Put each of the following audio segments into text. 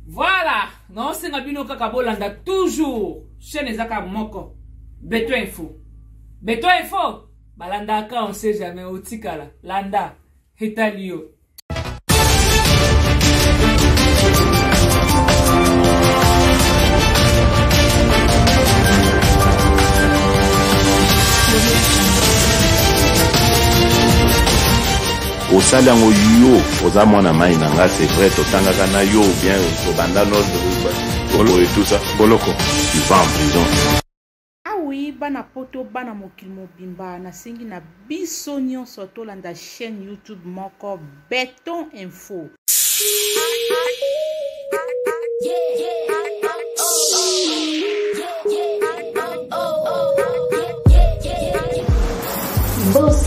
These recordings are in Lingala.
Voilà, naosenga bino kaka bolanda toujours chaîne eza kaka moko beto info beto info balandaka on sait jamais otikala landa etali yo osali yango yo oza mwana mai na nga c'est vrai totangaka na yo bien tobanda nord oyo tout ça boloko tu vas en prison awi ah bana poto bana mokili mobimba nasengi na biso nyonso tolanda chaîne youtube moko beton info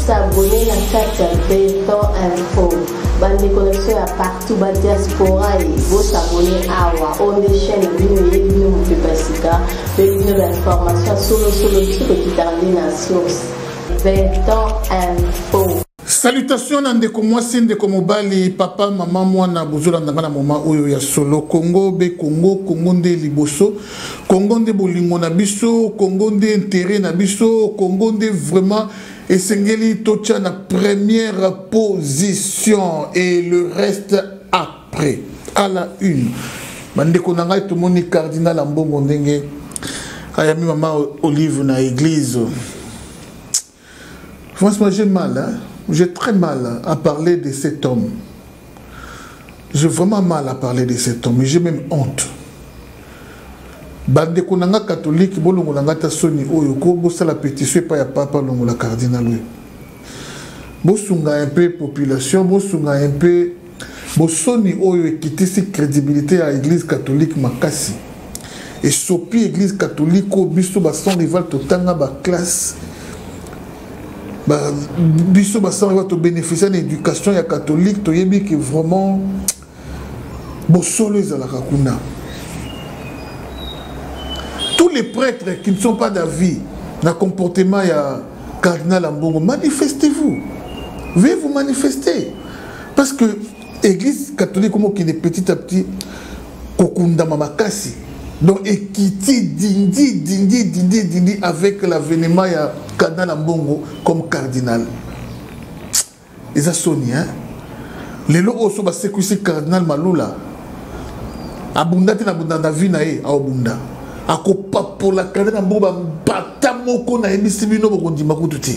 s'abonner na kati ya beton info bandeko na biso ya partout badiaspora ye bosabone awa oyo nde chaîne bino eye bino mopepa sika mpe bino bainformation solosolo biso tokitaka nde na source beton info Salutation na ndeko mwasi ndeko mobali papa mama mwana bozolanda nga na moma oyo ya solo Congo be Congo Congo nde liboso Congo nde bolingo na biso Congo nde intérêt na biso Congo nde vraiment esengeli totya na première position et le reste après à la une bandeko na ngai tomoni cardinal ambongo ndenge ayami mama olive na église Franchement, j'ai mal, hein? j'ai très mal à parler de cet homme. J'ai vraiment mal à parler de cet homme, j'ai même honte. bandeko na nga katolike bolongola nga ata soni oyo ko bosala pétition epai ya papa longola cardinal oyo bosunga un peu population bosunga un peu bosoni oyo ekitisi crédibilité ya église catholique makasi esopi église catholique oyo biso bason rival totanga baklasse ba, biso bason rival tobénéficie na éducation ya catholique toyebi ke vraiment bosolo ezalaka kuna tous les prêtres qui ne sont pas d'avis na comportement ya cardinal ambongo manifestez-vous veuillez vous manifester parce que église catholique omokende petit à petit kokundama makasi donc ekiti dindi dindi dindi dindi avec l'avenement ya cardinal ambongo comme cardinal eza soni hein lelo oyo so basekwisi cardinal malula abunda te na bunda na vie na ye aobunda akopapola cardinal ambongo bambata moko nayebisi bino bokondima kutu te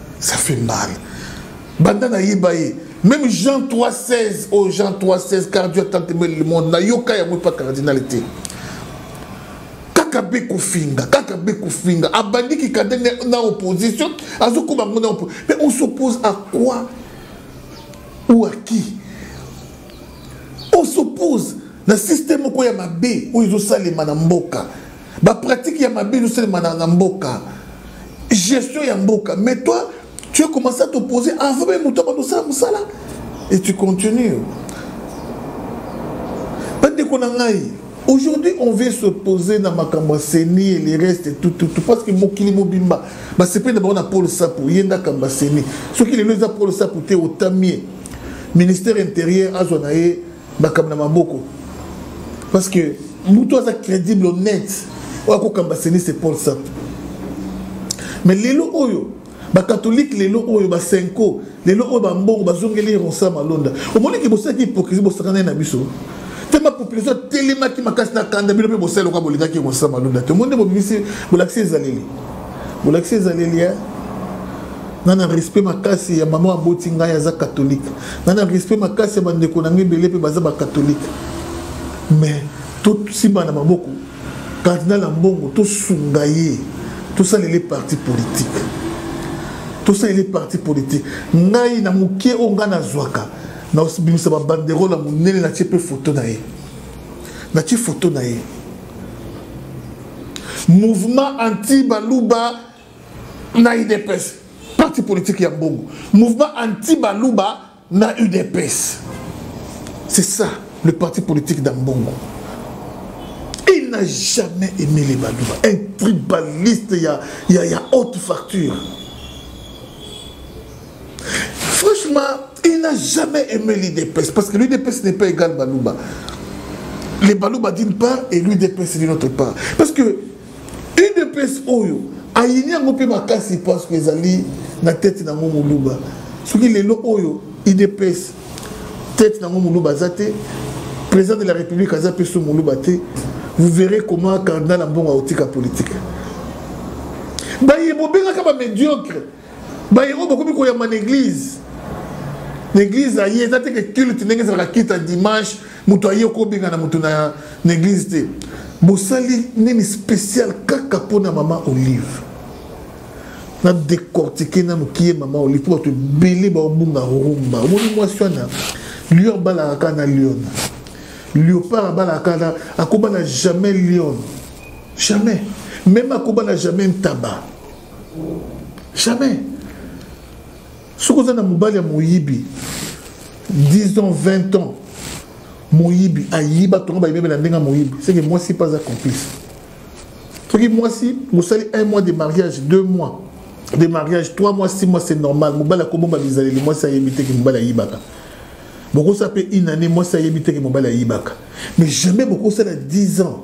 ça fait mal banda nayeba ye même jean 316 oyo oh, jean 316 cardio atanteme le monde nayoka yango epa cardinal te kaka be kofinga kaka be kofinga abandi kikande na opposition azokoma yango na opposition mais on s'oppose à quoi ou à qui on s'oppose na système moko ya mabe oyo ezosalema na mboka Ba pratique ya mabe nous seulement na mboka. Gestion ya mboka. Mais toi, tu as commencé à t'opposer avant même mutu abando sala musala et tu continues. Bande ko na ngai. Aujourd'hui, on veut se poser dans Makambo Seni et les restes et tout, tout, tout. Parce que Mokili Mobimba, bah, c'est pas d'abord Paul Sapou, Yenda Kamba Seni. Ce qui est le Paul Sapou, t'es au Tamie. Ministère intérieur, Azonae, makambo na maboko parce que moto aza crédible honnête oyo akokamba seni se paul sap mais lelo oyo bakatholike lelo oyo basenko lelo oyo bambongo bazongeli rosa malonda omoni ke bosalaki hypocrisie bosakana ye na biso te bapopulation atelemaki makasi na kanda bino mpe bosala lokola bolingaki rosa malonda te omoni nde bobimisi bolakisi ezaleli bolakisi ezaleli ya nga na respect makasi ya mama aboti ngai aza katholike nga na respect makasi ya bandeko na ngai ebele mpe baza bakatholike mais tosimba na maboko kardinal ya mbongo tosunga ye tosalele parti politike tosalele parti politike ngai na moke oyo ngai nazwaka nabimisa babanderole ya monene natie mpe foto na ye natie foto na ye mouvement anti baluba na udps parti politique ya mbongo mouvement anti baluba na udps c'est ça le parti politique d'un mbongo il n'a jamais aimé les baluba un tribaliste ya, ya, ya haute facture Franchement, il n'a jamais aimé l'UDPS parce que l'UDPS n'est pas égal Baluba. Les Baluba d'une part et l'UDPS d'une autre part. Parce que l'UDPS Oyo, ayini yango mpe makasi parce que ezali na tete nango moluba soki lelo oyo idps tete nango moluba aza te président de la république aza mpe so moluba te vous verrez comment cardinal ambongo aotika politique baye bobengaka bamédiocre baye oyo bakomi koyamba na eglize na eglize na ye eza te ke culte ndenge ezalaka culte ya dimanche moto aye okobengana moto na eglize te bosali nini spécial kaka mpo na mama olive na décortiquer nanu kiye mama olive mpo bato ebele baobunga rumba omoni mwasi wana lion abalaka kaka na lion leopard abalaka kaka na akobana jamais lion jamais meme akobana jamais ntaba jamais soki oza na mobali ya moyibi 10 ans 20 ans moyibi ayiba tongo bayibebela ndenge ya moyibi seke mwasi mpe aza complice soki mwasi mosali un mois de mariage deux mois de mariage trois mois six mois c'est normal mobali akobomba bizaleli mwasi ayebi te ke mobali ayibaka bokosala mpe une année mwasi ayebi te ke mobali ayibaka mais jamais bokosala 10 ans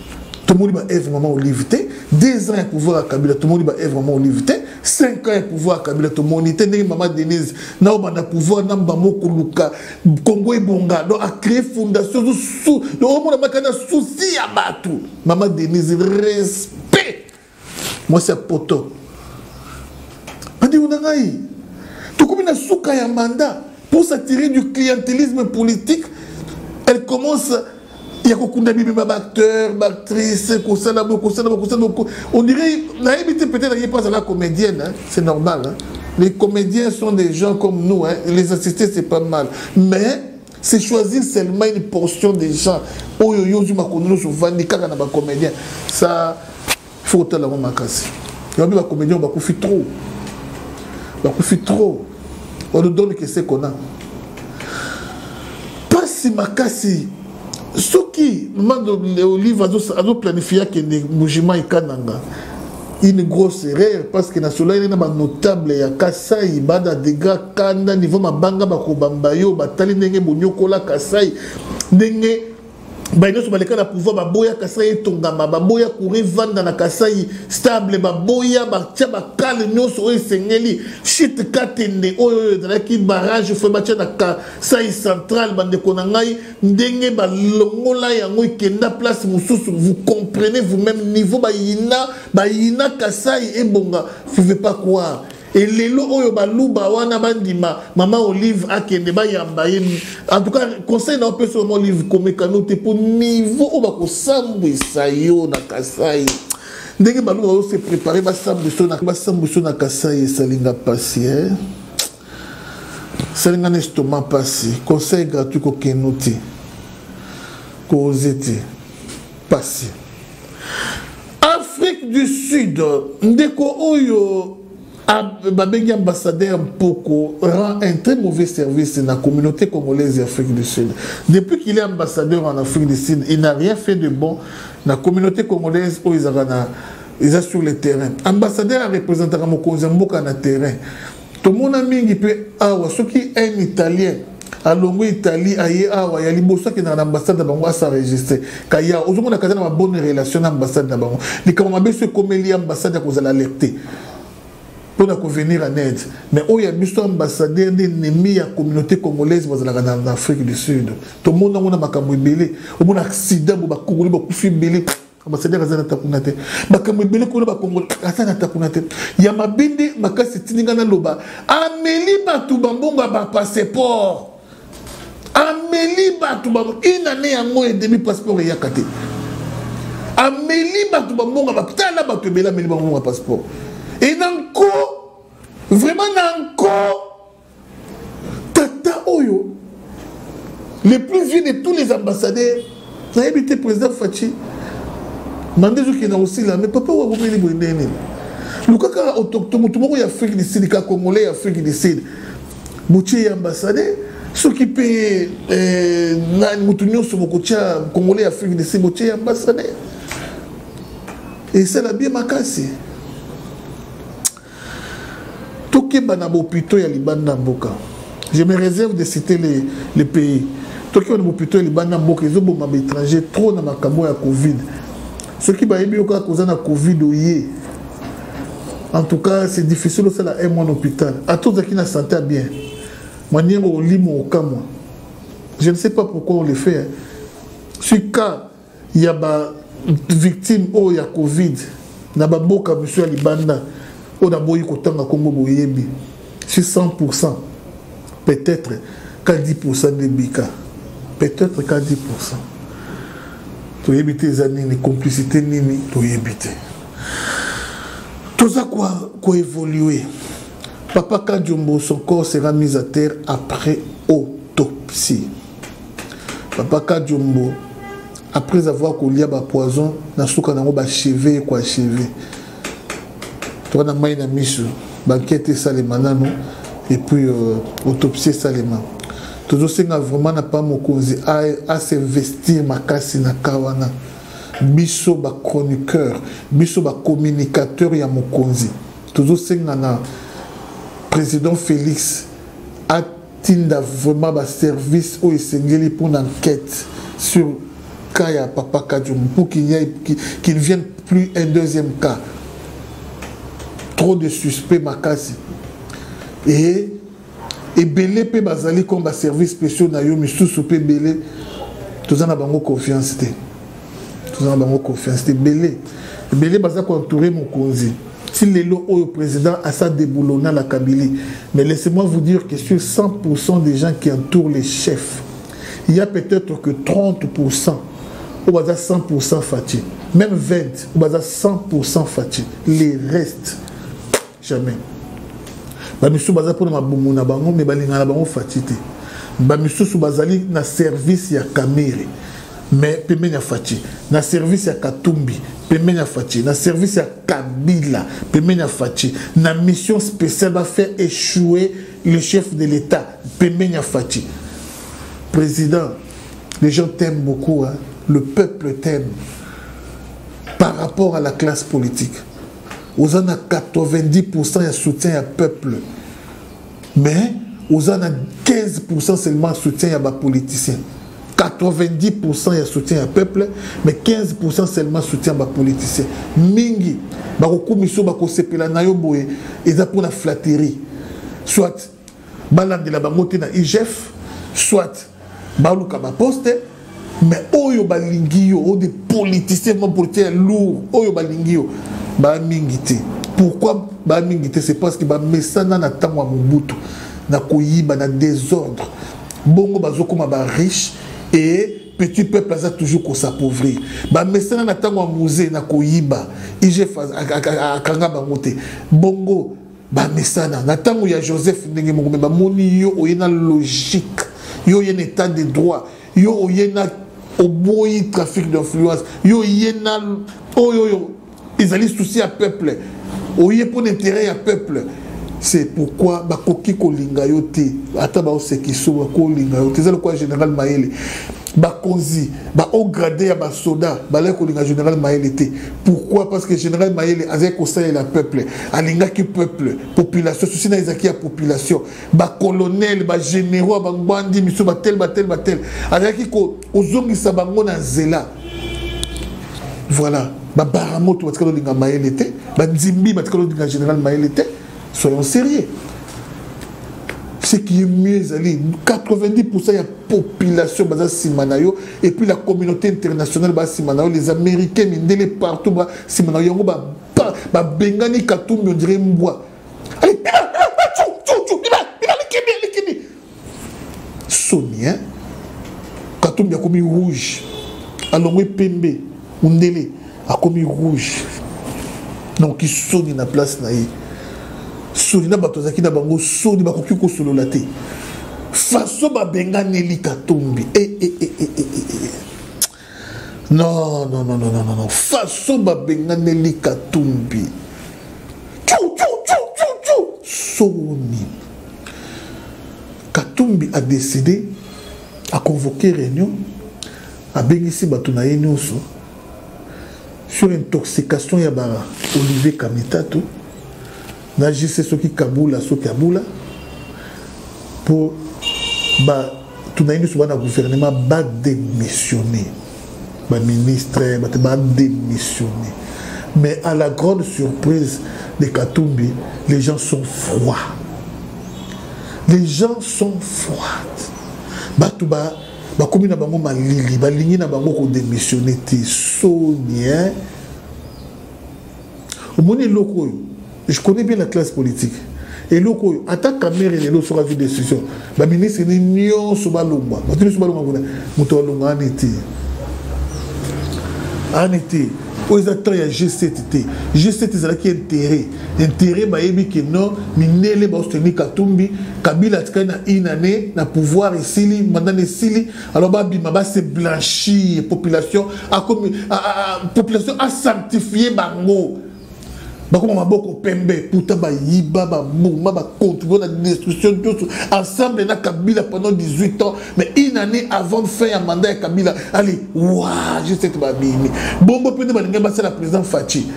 tomoni ba eve maman olive te deux ans ya pouvoir ya kabila tomoni ba eve maman olive te cinq ans ya pouvoir ya kabila tomoni te ndenge mama denise na obanda pouvoir na mbamo koluka kongo ebonga donc acree fondation omona makanda souci ya bato mama denise respect mwasi ya poto bandeko na ngai tokomi na suka ya mandat pour s'attirer du clientélisme politique elle commence ya kokunda bibima baacteur baactrice kosala bo kosala bo kosala bo on dirait nayebi te peut-être aye mpo azala comédienne hein? c'est normal hein? les comédiens sont des gens comme nous hein? les assister c'est pas mal mais c'est choisir seulement une portion des gens oyo yo ozwi makono nyonso ovandi kaka na bacomédien ça faut kotala yango makasi yabi bacomédien bakufi trop bakufi trop on nous donne que c'est qu'on a mpasi makasi soki mama olive azoplanifie akende mojima ekananga une grosse erreur parce que nasolaki na banotable ya kasai bada degra kanda niveau mabanga bakobamba yo batali ndenge bonyokola kasai ndenge baye nyonso baleka na pouvoir baboya kasai etongama baboya kura evanda na kasai stable baboya batya bakale nyonso oyo esengeli shit katende oyo oyo ezalaki barrage fo batya na kasai central bandeko na ngai ndenge balongola yango ekenda place mosusu vous comprenez vous-même niveau bayina bayina kasai ebonga vous pouvez pas croire elelo oyo baluba wana bandima mama olive akende bayamba ye en tout cas conseil na opesa mama olive komekano te mpo niveau oyo bakosambwisa yo na kasai ndenge baluba oyo se prépare basambwisa na kasai esalinga mpasi eh? salinga na estoma mpasi conseil gratuit kokenu te koze te mpasi afrique du sud ndeko oyo babengi ambassadeur mpoko rend un très mauvais service na communauté congolaise ya afrique du sud depuis qu'il est ambassadeur en afrique du sud il n'a rien fait de bon na communauté congolaise oyo ezalaka na eza sur le terrain ambassadeur arepresentaka mokonzi ya mboka na terrain tomona mingi mpe awa soki un italien alongwe italie aye awa ya liboso akendaka na ambassade na bango asaregistre kaya ozomona kaza na babonne relation na ambassade na bango likambo mabe so ekomeli ambassade ya kozala alerte mpo na kovenir en aide mais oyo ya biso ambassadeur nde ennemi ya communauté congolaise bazalaka na afrique du sud tomona yango na makambo ebele omona accident bo bakongoli bakufi ebele ambasadere aza na takuna te makambo ebele kuna bakongo aza na takuna te ya mabe nde makasi etindi ngai naloba ameli bato bambongo ya bapasseport ameli bato inane yango edemi passeport eyaka te ameli bato bambongo batala bato ebele ameli bambongo ya passeport ena nko vraiment na nko tata oyo le plus vieux de tous les ambassadeurs nayebi te président faci manda ezokenda kosila mais papa oyo akomeli boye ndenge nini luka kaka autochtone moto moko ya afrique du sud kaka congolais ya afrique du sud botie ye ambassadeur soki mpe eh, nani moto nyonso bokotya congolais ya afrique du sud botie ye ambassadeur esala bie makasi tokeba na bopito ya libanda ya mboka je me réserve de citer les, les pays tokeba na bopito ya libanda ya mboka ezoboma baétranger trop na makambo ya covid soki bayebi yo kaka koza na covid oye en tout cas c'est difficile osala un mois na hôpital ata ozalaki na santé ya bien maniengo olimo okamwa je ne sais pas pourquoi on le fait hein. sur cas ya ba victime oyo ya covid na baboka misu ya libanda oyo naboyi kotanga nkombo boyebi si 100 pourcent peut-être ka 10 pourcent nde bika peut-être ka 10 pourcent toyebi te eza nini complicité nini toyebi te toza koévolue papa kadiombo son corps sera mis à terre après autopsie papa kadiombo après avoir kolia bapoison na suka nango bacheve ekwa cheve toa na mai na miso bankete esalema nano epuis euh, autopsie esalema tozosenga vraiment na pa mokonzi asinvestir makasi na ka wana biso bachroniqueur biso bacommunicateur ya mokonzi tozosenga na président félix Tinda vraiment ba service oyo esengeli pour enquête sur cas ya papa Kadium pour qu'il n'y ait qu'il ne vienne plus un deuxième cas. Trop de suspects makasi. Et ebele mpe bazali comme baservice spéciaux na yo misusu mpe ebele toza na bango confiance te toza na bango confiance te ebele ebele baza koentoure mokonzi ti lelo oyo président asa deboulonna na kabili mais laissez-moi vous dire que sur 100% des gens qui entourent les chefs il y a peut-être que 30% oyo baza 100% fati même 20 oyo baza 100% fati les restes jamais bamisusu baza mpona mabumu na bango me balingana na bango fati te bamisusu bazali na service ya kamere me pembeni ya fati na service ya katumbi pembeni ya fati na service ya kabila pembeni ya fati na mission spéciale bafaire échouer le chef de l'état pembeni ya fati président les gens t'aiment beaucoup hein? le peuple t'aime par rapport à la classe politique oza na 90% ya soutien ya peuple mais oza na 15% seulement soutien ya bapoliticien 90% ya soutien ya peuple mais 15% seulement soutien ya bapoliticien mingi bakokumisa yo bakosepela na yo boye eza mpona flatterie soit balandela bango te na igf soit baluka baposte mais oyo balingi yo oyo de politicien ma politicien ya lour oyo balingi yo baa mingi te pourquoi baa mingi te c'est parce que bamesana na ntango ya mobutu na koyiba na désordre bongo bazokoma bariche e petit peuple aza toujours kosapauvrir bamesana na ntango ya musée na koyiba igf akanga bango te bongo bamesana na ntango ya joseph ndenge moko me bamoni yo oye na logique yo oye na état de droit yo oye na oboyi trafic d'influence yo oye na oyo oyo ezali souci ya peuple oye mpo na intérêt ya peuple c'est pourquoi bakoki kolinga yo te ata baosekiso bakolinga yo te eza lokola général mayele bakonzi bahaut grade ya basoda balaki kolinga général mayele te pourquoi parce que général mayele azali kosalela peuple alingaki peuple population susi na ezalaki ya population bacolonel bagénéraux ya bangbandi miso batele batele batele azalaki kozongisa bango na nzela voilà babaramoto batikali olinga mayele te banzimbi batikali olinga général mayele te soyons sérieux ce qui est mieux ezali 90% ya population baza nsima na yo et puis la communauté internationale baza nsima na yo les américains mindele partout ba nsima na yo yango babengani katumbi ondire mbwa soni hein katumbi akomi rouge alongwe pembe mundele akomi rouge donc soni na place na ye soni na bato azalaki na bango soni bakoki kosolola te faso babenganeli katumbi e, e, e, e, e, e. Non, non, non, non, non, non. Façon babenganeli Katumbi. Tchou, tchou, tchou, tchou, tchou. Soni. Katumbi a décidé à convoquer réunion à Bengissi Batuna Yenyoso sur intoxication ya ba Olivier Kamitato. na jise soki kabula soki abula mpo bato na ye nyonso bana gouvernement badémissionne baministre bato badémissionne mais à la grande surprise de katumbi les gens sont froids les gens sont froids bato ba bakomi na bango malili balingi na bango kodémissionne te soni hein? omoni eloko oyo je connais bien la classe politique eloko oyo ata kamere lelo soki azwi décision baministre ni nyonso balongwa bato nyonso balongwa kuna moto alongwa ani te ani te oyo eza temps ya g7 te g7 ezalaki intérêt intérêt bayebi ke non mindele baosuteni katumbi kabila atikali na une année na pouvoir esili mandana esili alors babima base blanchir population akomi population asanctifie bango bakoma maboko pembe pourtant bayiba baboma bacontribue na destruction nyonso ensemble na kabila pendant 18 ans mais une année avant fin ya mandat ya kabila allez wa je sais que babimi bongo mpe nde balingai basala président faci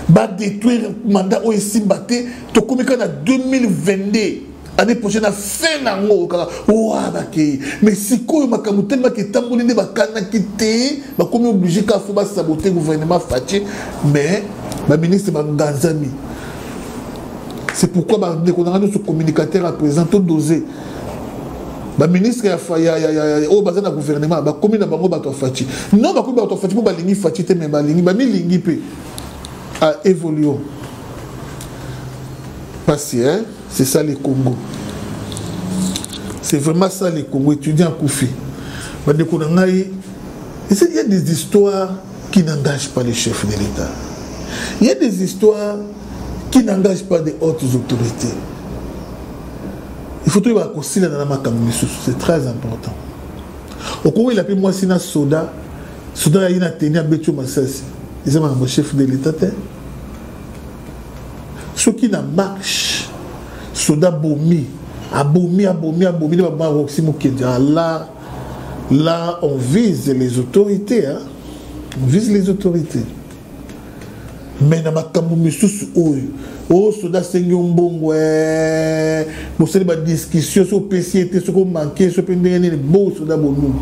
badétruire mandat oyo esimba te tokomi kaka na 2022 année prochaine na fin na yango kaka oa bakei mais sikoyo makambo telemaki etamboli nde bakanaki te bakomi oblige kaka fo basabote gouvernement fatie mais baministre banganzami c'est pourquoi bandeko na ngai nyonso communicateur ya président to dose baministre oyo baza na gouvernement bakomi na bango bato ya faci non bakomi bato ya faci mpo balingi faci te me balingi bamilingi mpe a ah, évoluons pasi hein c'est ça le congo c'est vraiment ça le congo étudiant akufi bandeko na ngai il y a des histoires qui n'engagent pas les chefs de l'état il y a des histoires qui n'engagent pas des hautes autorités il faut toyeba kosilana na makambo misusu c'est très important okowela mpe mwasi na soda soda yayi na teni abeti yo masasi eza makambo chef de l'état te soki na marche soda bomi abomi abomi abomi nde baboma roxy mokendi ah, la la on vise les autorités hein? on vise les autorités mais na makambo misusu oyo o oh, soda asengi yo mbongo eh, bosali badiscussion soki opesi ye te soki omanke so mpe ndenge nini bo soda bolulu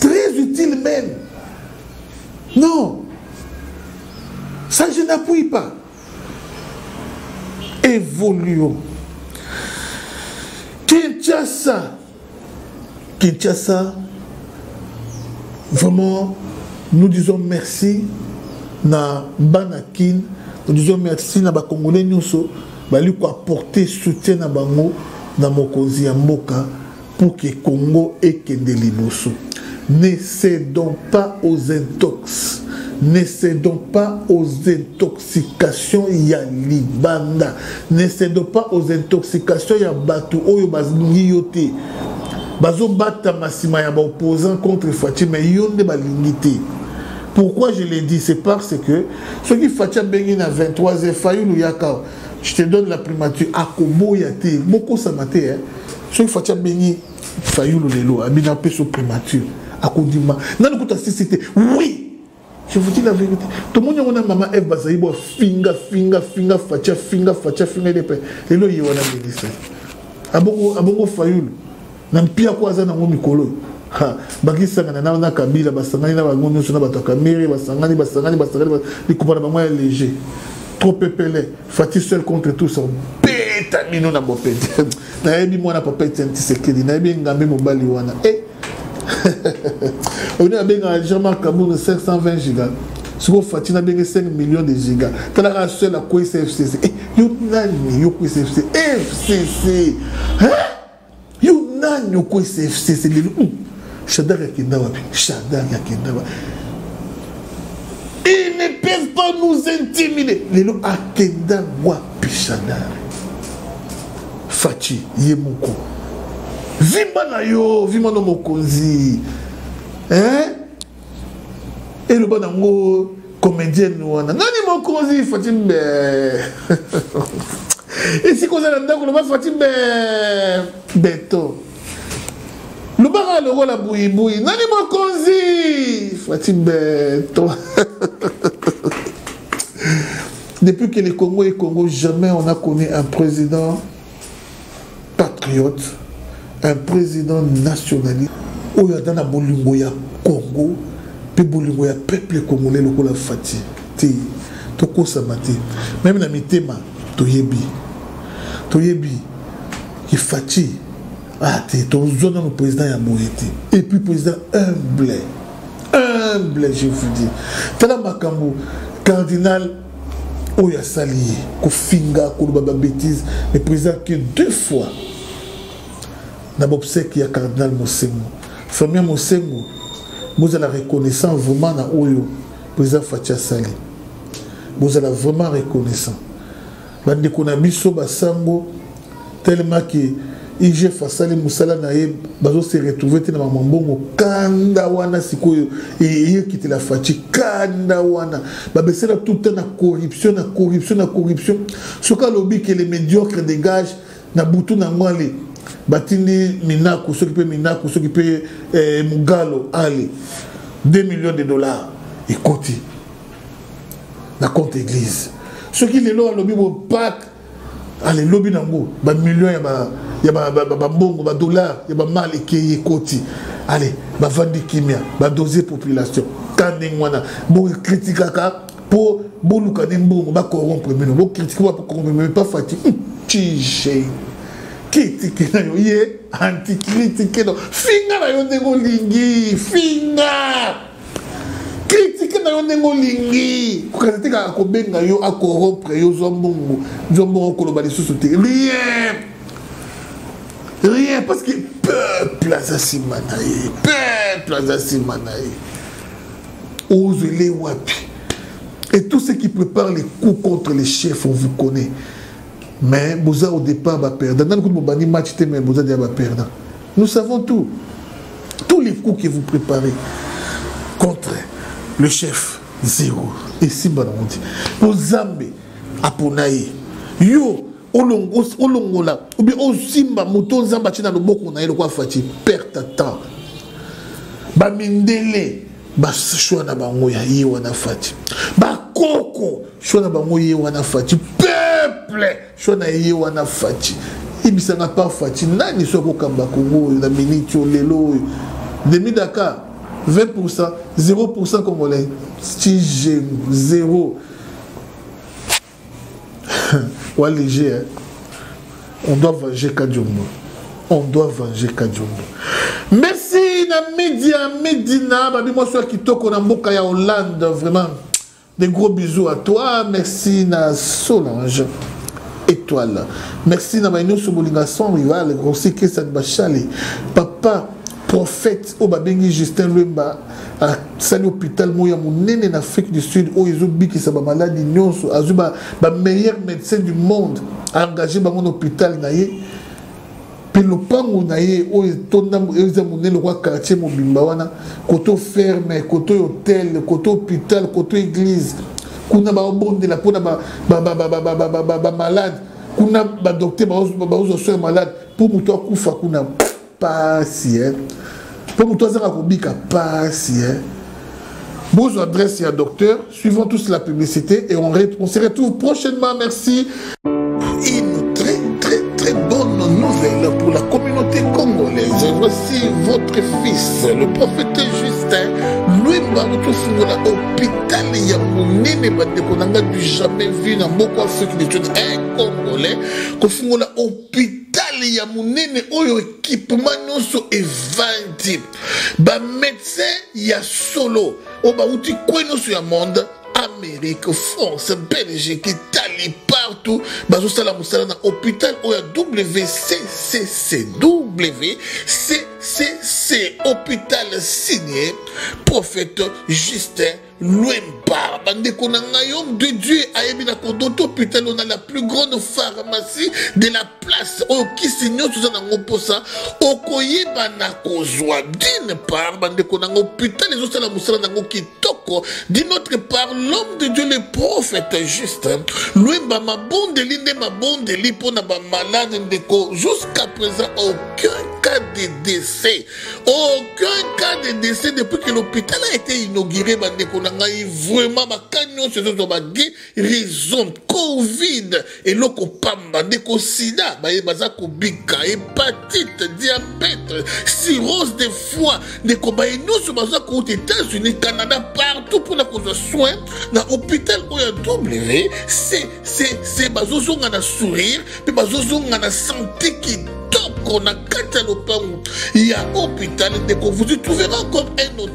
très utile même non ça je n'appuie pas évoluons Kinshasa Kinshasa vraiment nous disons merci na Banakin nous disons merci na bakongolais nyonso bali koapporte soutien na bango na mokonzi ya mboka pour que Congo ekende liboso. Ne cédons pas aux intox. Ne cédons pas aux intoxications ya libanda. Ne cédons pas aux intoxications ya batu oyo balingi yo te. Bazobatama nsima ya baopposant contre Fatshi mais yo nde balingi te. Pourquoi je l'ai dit C'est parce que ceux qui Fatshi abengi na 23 e Fayulu yaka je te donne la primature akoboya te bokosama te hein soki fati abengi fayulu lelo abina apeso primature akondima nani kuta sisi te oui je vous dis la vérité tomoni yango na mama eve bazali bo afinga finga finga fati afinga fati afinga ye mpe lelo ye wana melisa abongo abongo fayulu na mpia ko aza nango mikolo oyo bakisangana na na kabila basangani na bango nyonso na bato ya kamere basangani basangani basangani likupa na bango ya léger trop pepele fati seul contre tous beta bino na bopete nayebi mwana papa etienne tisekedi nayebi engambe mobali wana e eh! oni abengaka jean marc kaburu 520 giga sikoyo fati nabenge 5 million de giga tala kaka seul akweyisa fcc eh, yo nani yo kweyisa fcc eh, fcc yo nani okweyisa fcc lelo hmm. shadak akenda wapi shadak akenda wapi ils ne peuvent pas nous intimider lelo akenda wapi shadak faci ye moko vimba na yo vimba na mokonzi eh? eloba nango comédienne wana nani mokonzi faci be esika oza na ndako loba faci be beto lobaka lokola buibui nani mokonzi faci beto Depuis que le Congo est Congo, jamais on a connu un président patriote, un président nationaliste. oyo aza na bolingo ya congo mpe bolingo ya peuple congolais lokola fati te tokosama te meme na mitema toyebi toyebi ifati ah te tozwa nano président ya boye te et puis président humble humble je vous dis tala makambo cardinal oyo asali ye kofinga koloba babétise mais président que deux fois na bobsèque ya cardinal mosengo famille mosengo bozala reconnaissant vraiment na oyo président faci asali bozala vraiment reconnaissant bandeko na biso basango tellement que igf asali mosala na ye bazose retrouve te na mama mbongo kanda wana sikoyo eyekitela faci kanda wana babesela tout temps na corruption na corruption na corruption soki alobi ke le médiocre dégage na butu na yango ale batindi minaku soki mpe minaku soki mpe eh, mugalo ale 2 millions de dollars ekoti na compte église soki lelo alobi bo pake alelobi nango bamillion ya bambongo badollar ya bamale ekei ekoti ale bavandi kimia badose population ka ndenge wana bokritikaka mpo boluka nde mbongo bacorrompre bino bokritike bacorrompre bino pa fati tije kritike na yo ye antikritike no finga na yo ndenge olingi finga kritike na yo ndenge olingi kokanisa te kaka kobenga yo akorompre yo zwa mbongo zwa mbongo koloba lisusu te rien rien parce que peuple aza nsima na ye peuple aza nsima na ye ozwele wapi et tout ce qui prépare les coups contre les chefs on vous connaît mais boza au départ baperdant nani kutu bobandi match te mais boza deya baperdant Nous savons tout. Tous les coups que vous préparez contre le chef, zéro. Et si Banamonti, pour Zambe, Aponaï, yo, olongola ou bien osimba moto nzambe atyina loboko na ye lokola fati perte temps bamindele bashwa na bango ya ye wana fati bakoko shwa na bango ye wana fati peuple sho na ye wana faci ibisanga par faci nani so akokamba kongo oyo na miniti oyo lelo oyo demi dakar 20 pourcent 0 pourcent congolais tige 0 wa léger hein? on doit venger kadiombo on doit venger kadiombo merci na media medina babi mwasi ya kitoko na mboka ya hollande vraiment Des gros bisous à toi, merci na Solange Étoile. Merci na baino sobolinga sans rival, grossi kesa bachali. Papa prophète oyo babengi justin lwemba asali hôpital moko ya monene na afrique du sud oyo ezobikisa bamaladi nyonso azwi bameilleur médecin du monde aengage bango na hôpital na ye mpe lopango na ye oyo etonda eza monene lokola quartier mobimba wana koto ferme koto hotel koto hôpital koto église kuna baobondela mpona bamalade kuna badokter baozwa soin malade mpo moto akufa kuna pasi eh. mpo moto azanga kobika pasi eh. bozwa adresse ya docteur Suivons tous la publicité et on, on se retrouve prochainement. Merci. Une très très très bonne nouvelle pour la communauté congolaise. Voici votre fils, le prophète Justin Louimba Mutufungola, hôpital ya monene bandeko na ngai du jamais vu na mboka afrique du sud un congolais kofungola hôpital hôpital ya monene oyo ekipema nyonso evandi bamédecin ya solo oyo oh, bauti kwe nyonso ya monde amérique france belgique italie partout bazosala mosala na hôpital oyo ya wccc wccc hôpital signe prophète justin lwempa bandeko na ngai homme de dieu ayebi na kodoto hôpital oyo na la plus grande pharmacie de la place oyo kisi nyonso oza nango mposa okoyeba na kozwa dine part bandeko nango putale ezosala mosala nango kitoko d'une autre part l'homme de dieu le prophète juste lwemba mabondeli nde mabondeli mpo na bamalade ndeko jusqu'à présent aucun cas de décès aucun cas de décès depuis que l'hôpital a été inauguré bandeko na ngai vraiment bakai nyonso ezozwa bage raison covid eloko pamba ndeko sida baye baza kobika hepatite diabete cirose de foi ndeko baye nyonso baza kouta états-unis canada partout mpona kozwa soin na hôpital oyo ya w se bazozonga na sourire mpe bazozonga na sante kitoko na kati ya lopango ya hôpital ndeko vous y trouvera comme un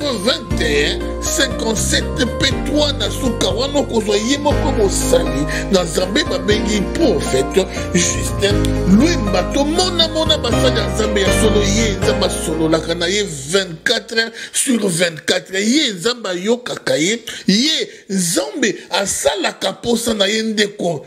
21 57 p3 na suka wana okozwa ye moko mosali na nzambe babengi profete justin lwemba tomonamona basali ya nzambe ya solo ye nzambe asololaka na ye 24 sur 24 ye nzambe ayokaka ye ye nzambe asalaka mposa na ye ndeko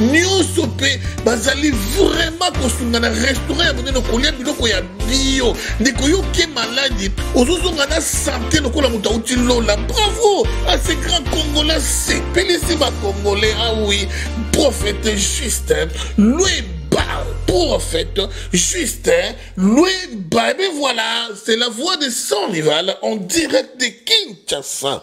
nyonso mpe bazali vraimen kosunga na restaurant ya monene kolia biloko ya bio ndeko yo oke maladi ozozonga na sante lokola moto auti lola bravo a ce grand congolais sepelisi bacongolais awi ah profete juste lue prophète Justin Louis Babe. Voilà, c'est la voix de Sanrival en direct de Kinshasa.